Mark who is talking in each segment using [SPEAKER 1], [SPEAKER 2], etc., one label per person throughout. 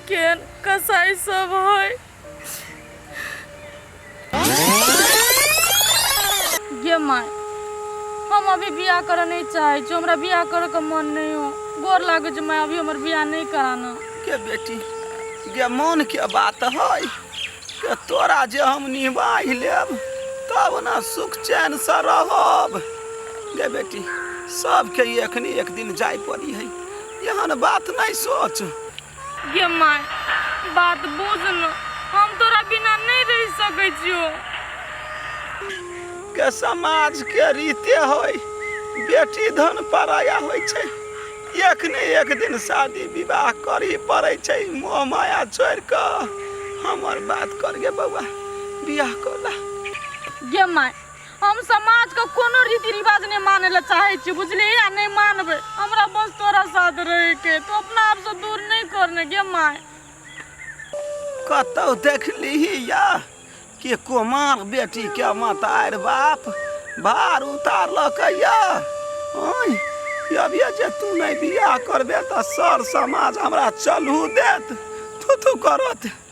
[SPEAKER 1] केहन कसाइ सभ हइ। ये माय हम अभी बियाह करऽ नहीं चाहे छी हमरा बियाह करऽ के मन नहीं हो गोर लागे छै माय अभी हमर बियाह नहीं कराना के बेटी
[SPEAKER 2] गे मन के बात है के तोरा जे हम निभाइ लेब तब ना सुख चैन से रहब गे बेटी सबके एखनी एक दिन जाय पड़ी है एहन बात नहीं सोच गे
[SPEAKER 1] माय, बात बुझ न, हम तोरा बिना नै रहि सकै छियौ।
[SPEAKER 2] गे समाज के रीते होइ, बेटी धन पराया होइ छै। एक ने एक दिन शादी विवाह करही पड़ै छै। मोह माया छोड़ि क हमर बात कर गे बौआ, बियाह क लह। गे
[SPEAKER 1] माय, हम समाज के कोनो रीति रिवाज नहीं माने ला चाहे छी बुझली आ नहीं मानबे हमरा बस तोरा साथ रहे के तो अपना आप से दूर नहीं करने गे माय कतौ
[SPEAKER 2] देख लीही या कि कुमार बेटी के मतार बाप भार उतार लकैया ओय अब ये जे तू नहीं बियाह करबे त सर समाज हमरा चलहू देत थू थू करत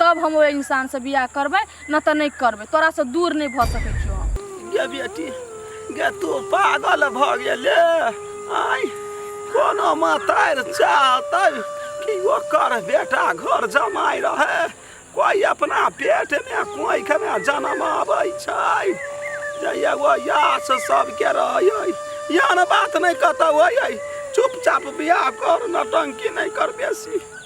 [SPEAKER 1] तब हम ओहि इंसान से बियाह करबे न तो नहीं करबे तोरा से दूर नहीं भ सके छो हम गे बेटी
[SPEAKER 2] गे तू पागल भ गेले आय कोनो मातार चाहते कि ओकर बेटा घर जमाई रहे कोई अपना पेट में कोई के में जन्म आवे छै जे एगो यास सबके रहे यान बात नहीं कतौ होय चुपचाप बियाह कर नटंकी नहीं कर बेसी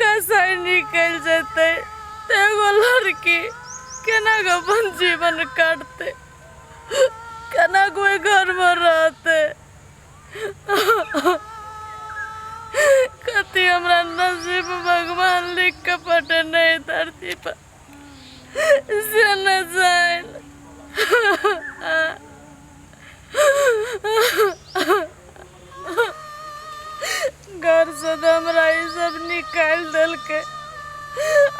[SPEAKER 1] कसाई निकल जते ते एगो लड़की केना के अपन जीवन काटते केना कोई घर में रहते कति हमरा नसीब भगवान लिख के पटे नहीं धरती पर घरसँ तऽ हमरा ई सब निकालि देलकै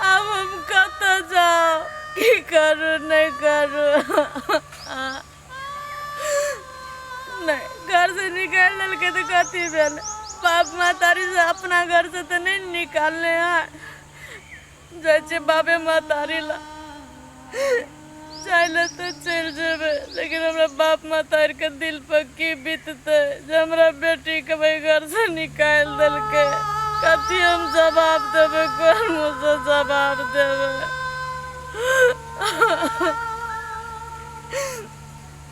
[SPEAKER 1] आब हम कतऽ जाउ की करू नहि करू नहि घरसँ निकालि देलकै तऽ कथी भेल बाप महतारीसँ अपना घरसँ तऽ नहि निकाललै हँ जाइ छियै बाबे महतारी ला जाय ला तऽ चलि जेबै लेकिन हमरा बाप महतारी के दिल पर की बीततै जे हमरा बेटी के वही घर से निकालि देलकै कथी हम जवाब देबै कोन मुँह से जवाब देबै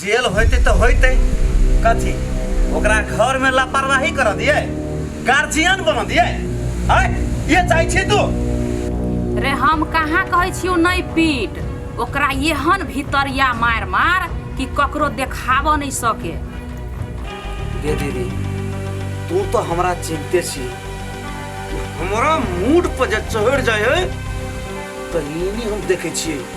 [SPEAKER 3] जेल
[SPEAKER 2] होते तो होते कथी ओकरा घर में लापरवाही कर दिए गार्जियन बन दिए आय ये चाहे छी तू रे
[SPEAKER 3] हम कहाँ कहै छियौ नहि पीट ओकरा एहन भितरिया मार मार कि ककरो देखाबऽ नहि सके
[SPEAKER 2] गे दीदी तू तो हमरा चिंते छी हमरा मूड पर जे चढ़ जाए है तहिनी हम देखे छियै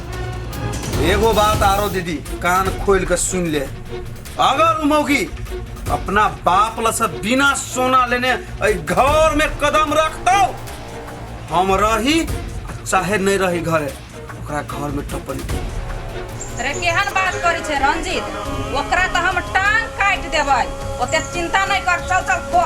[SPEAKER 4] एगो
[SPEAKER 2] बात
[SPEAKER 4] आरो दीदी कान खोल के सुन
[SPEAKER 2] ले अगर उ मौगी अपना बाप ल से बिना सोना लेने ए घर में कदम रखतो हम रही चाहे नहीं रही घरे ओकरा घर में टपली अरे
[SPEAKER 3] केहन बात करी छे रंजीत ओकरा तो हम टांग काट देबै ओते चिंता नहीं कर चल चल को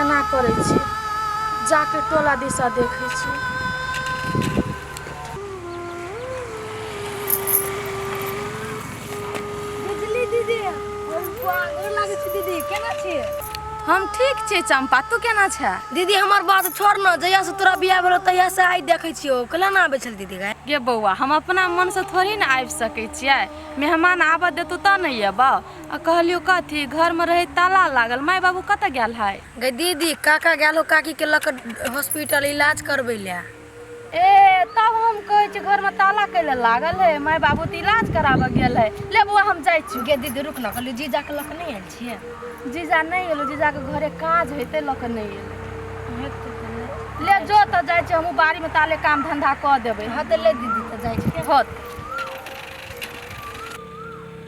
[SPEAKER 1] एना करै छी जाके टोला दिशा देखै छी
[SPEAKER 4] बिजली दीदी हम गोर लागै छी दीदी केना छी हम ठीक
[SPEAKER 1] छी चंपा तू केना छै दीदी हमर बात
[SPEAKER 4] छोड़ न जहिया से तोरा बियाह भेलो तहिया से आइ देखै छियो कला ना आबै छल दीदी गाय गे बौआ हम अपना
[SPEAKER 1] मन से थोड़ी ने आबि सकै छियै मेहमान आबऽ देतौ तऽ ने अयबौ आ कहलियो कथी घर में रहे ताला लागल माय बाबू कत गेल है गे दीदी काका
[SPEAKER 4] गेल हो काकी के लक हॉस्पिटल इलाज करबे ले ए
[SPEAKER 1] तब हम कहे छी घर में ताला कैले लागल है माय बाबू तो इलाज कराबे गेल है ले बुआ हम जाय छी गे दीदी रुक ना कहलियो
[SPEAKER 4] जीजा के लक नहीं आयल छिए जीजा नहीं
[SPEAKER 1] एलो जीजा के घरे काज हेते लक नहीं एलो ले जो त जाय छी हमहू बाड़ी में ताले काम धंधा क देबे हां त ले दीदी त जाय
[SPEAKER 4] छी होत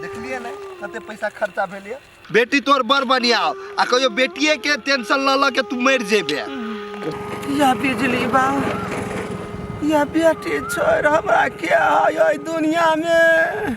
[SPEAKER 5] देखलिए ने कते पैसा खर्चा भेल ये बेटी तोर बड़ बढ़िया हो आ कहियो बेटिए के टेंशन ल ल के तू मर जेबे या
[SPEAKER 2] बिजली बा या बेटी छोड़ हमरा के आय दुनिया में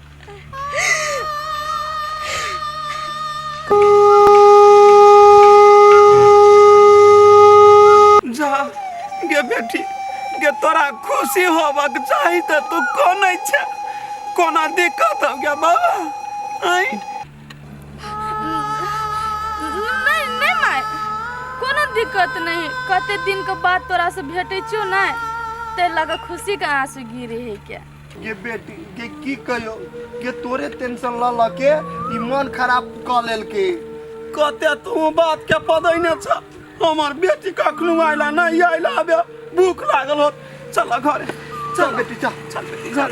[SPEAKER 2] जा गे बेटी गे तोरा खुशी होबक चाही तऽ तू कोनै छै कोना दिक्कत हो गया बाबा आइ
[SPEAKER 1] नहीं नहीं माय कोनो दिक्कत नहीं कते दिन के बाद तोरा से भेटै छियो ना ते लगा खुशी के आंसू गिरे है क्या गे बेटी
[SPEAKER 5] गे की कहियो गे तोरे टेंशन ल ल के ई मन खराब क लेलके कते
[SPEAKER 2] तू बात के पदैने छ हमर बेटी कखनो आइला नहीं आइला अबे भूख लागल होत चल घरे चल बेटी चल
[SPEAKER 5] चल बेटी चल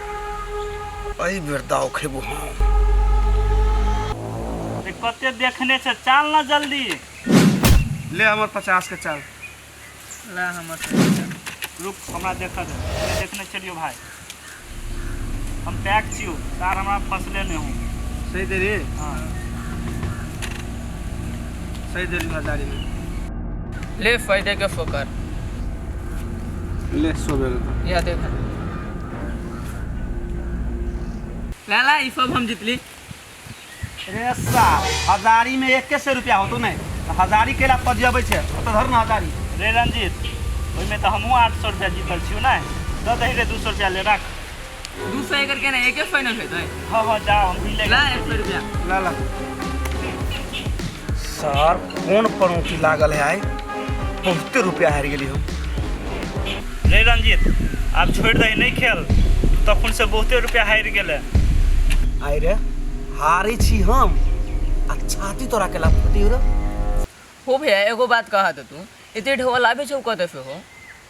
[SPEAKER 2] एहि बेर दाव खेबो हम
[SPEAKER 6] ए, कते देखने छ चाल ना जल्दी
[SPEAKER 2] ले हमर पचास के चाल ला
[SPEAKER 6] हमर पैसा। रुक हमरा देख दे हमे देखने चलियो भाय हम पैक छियो तार हमरा फसले ने हूँ सही दे रे
[SPEAKER 2] हाँ सही देली बाजारी में
[SPEAKER 7] ले फायदे के फोकर ले
[SPEAKER 2] सो बेल यह देख
[SPEAKER 7] लाला ई सब हम जीतली
[SPEAKER 2] रे सा हजारी में एक सौ रुपया होतो नहीं तो हजारी के ला पजियाबे छे तो धर ना हजारी रे रंजीत
[SPEAKER 6] ओहिमे तऽ हमहूँ आठ सए रुपया जीतल छियौ ने दऽ दही रे दू सए रुपया ले राख दू
[SPEAKER 2] सौ एकड़ के ना एक एक फाइनल है तो हां हां जा हम भी ले ला एक सौ रुपया ला ला सर कौन पनौती लागल है आए बहुते रुपया हार गेली हम
[SPEAKER 6] रे रंजीत आप छोड़ दे नहीं खेल तखन से बहुते रुपया हार गेले आए
[SPEAKER 2] रे हारे छी हम आ छाती तोरा के लाभ पति हो रे हो
[SPEAKER 7] भैया एगो बात कहा तो तू इतने ढोल आवे छौ कते से हो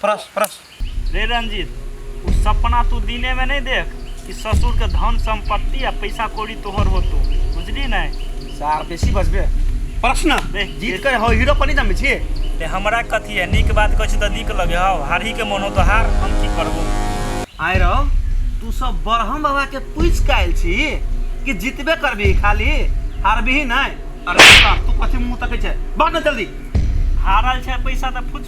[SPEAKER 2] प्रस प्रस रे रंजीत
[SPEAKER 6] उ सपना तू दिने में नहीं देख कि ससुर के धन संपत्ति आ पैसा कौड़ी तोहर होतो बुझली नहीं सार बेसी बजबे
[SPEAKER 2] प्रश्न ए, जीत कर हो हीरो पनि जमे छी ते हमरा कथी
[SPEAKER 6] है नीक बात कहै छी तऽ नीक लगे हौ हारही के मोन हो तऽ हार हम की करबो आय रहो
[SPEAKER 2] तू सब बरहम बाबा के पूछ के आयल छी कि जीतबे करबी खाली हारबी नहीं अरे तू कथी मुंह तकै छै बात न जल्दी हारल छै
[SPEAKER 6] पैसा तऽ फुच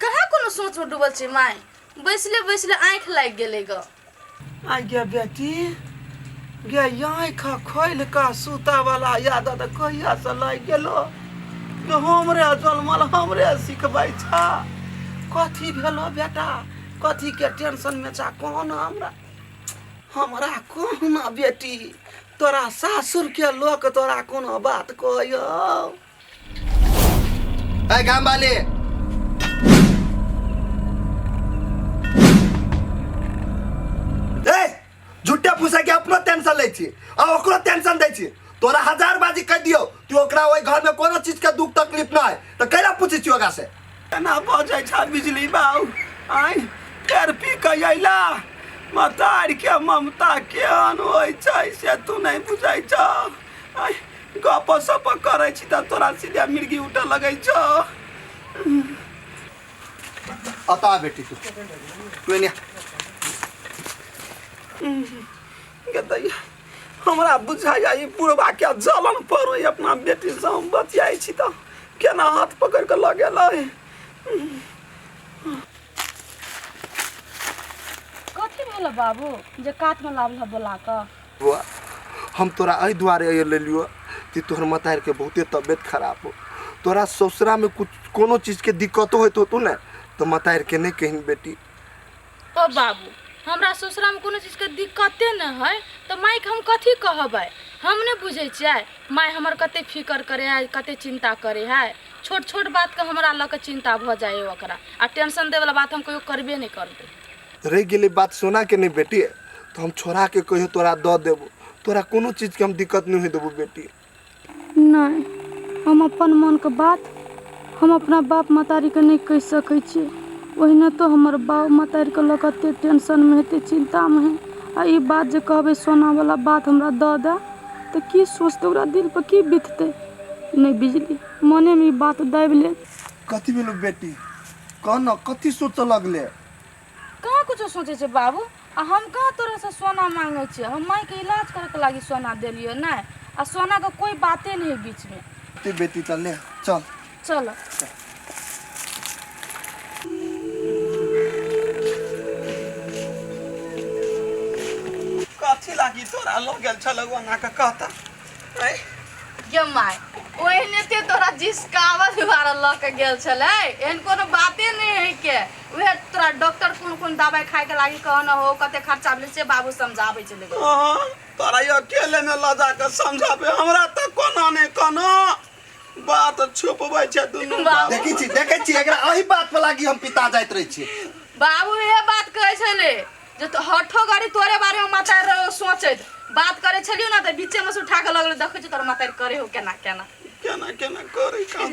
[SPEAKER 2] कहाँ
[SPEAKER 1] कोनो सोचमे डूबल छै माय बैसले बैसले आँखि लागि गेलै ग आइ गे
[SPEAKER 2] बेटी गे आँखि खोलि कऽ सुतऽवला आदत कहियासँ लागि गेलो गे हमरे जनमल हमरे सिखबै छा कथी भेलो बेटा कथीके टेंशनमे छा कह ने हमरा हमरा कह ने बेटी तोरा सासुरके लोक तोरा कोनो बात कहयौ
[SPEAKER 5] ए काम वाले ए झुट्टा फूसा के अपनो टेंशन ले छी आ ओकरो टेंशन दे छी तोरा हजार बाजी कह दियो तू ओकरा ओई घर में कोनो चीज के दुख तकलीफ ना है तो कैला पूछी छी ओकरा से केना भऽ जाइ
[SPEAKER 2] छ बिजली बाबू आइ फेर पी कऽ अइला मतार के ममता केहन होइ छै से तू नहि बुझै छह आय, गप सप करै छी तऽ तोरा सीधे मिर्गी उठऽ लगै छौ
[SPEAKER 5] अता बेटी तू तू एने आ।
[SPEAKER 2] गदई हमरा बुझाइया ई बुढ़बा के जलन पर ओइ अपना बेटी से हम बतियाइ छी तऽ केना हाथ पकड़ के लऽ गेलै
[SPEAKER 1] कथी भेल बाबू जे कातमे लाबल बोला कऽ बउआ
[SPEAKER 5] हम तोरा एहि दुआरे अइए लेलियो कि तोहर मतार के बहुते तबियत खराब हो तोरा ससुरा में कुछ कोनो चीज के दिक्कतो होत होतो ने तो मतार के नहीं कहीं बेटी ओ
[SPEAKER 1] बाबू हमरा ससुरामे कोनो चीजके दिक्कते नहि हइ तऽ माइके हम कथी कहबै हम नहि बुझै छियै माइ हमर कते फिकर करै हइ कते चिन्ता करै हइ छोट छोट बातके हमरा लऽ कऽ चिन्ता भऽ जाइ हइ ओकरा आ टेंशन दैवला बात हम कहियो करबे नहि करबै रहि गेलै बात
[SPEAKER 5] सोनाके नहि बेटी तऽ हम छोड़ाके कहियो तोरा दऽ देबो तोरा कोनो चीजके हम दिक्कत नहि होय देबो बेटी नहि
[SPEAKER 1] हम अपन मोनके बात हम अपना बाप मतारीके नहि कहि सकै छी ओहिना तो हमर बाप मतारीके लऽ कऽ एतेक टेंशनमे हेतै चिन्तामे है आ ई बात जे कहबै सोनावला बात हमरा दऽ दए तऽ की सोचतै ओकरा दिलपर की बिततै नहि बिजली मोनेमे ई बात दाबि ले कथी भेलौ
[SPEAKER 5] बेटी कह
[SPEAKER 1] ने
[SPEAKER 5] कथी सोचऽ लगले
[SPEAKER 1] कहाँ कुछो
[SPEAKER 5] सोचै
[SPEAKER 1] छै बाबू
[SPEAKER 5] आ
[SPEAKER 1] हम कहाँ तोरासँ सोना मांगै छियै हम मायके इलाज करैके लागि सोना देलियै नहि आ सोनाके कोइ बाते नहि है बीचमे ते बेटी तऽ ले चल चल कथी लागी तोरा लऽ गेल
[SPEAKER 5] छलौ ओना कऽ
[SPEAKER 2] कहता गे
[SPEAKER 1] माय ओहने ते तोरा जिसकावत दुआरा लऽ के गेल छलै एहन कोनो बाते नहि है के उहे तोरा डॉक्टर कोन कोन दवाई खाए के लागी कहना हो कते खर्चा भेल से बाबू समझाबै छलै गे। अहाँ तोरा यो
[SPEAKER 2] अकेले में लऽ जा के समझाबे हमरा तऽ कोना ने कोना बात छुपबै छै दुनू बाबू। बाबू देखै छी देखै छी
[SPEAKER 5] एकरा एहि बात पर लागी हम पिता जाइत रहै छी बाबू इहे
[SPEAKER 1] बात कहै छलै जे तो हठो गरी तोरे बारे में माता रे सोचैत बात करे छलियो ना त बीचे में से उठा के लगले देखै छ तोर माता रे करे हो केना
[SPEAKER 2] केना
[SPEAKER 1] केना केना करे काम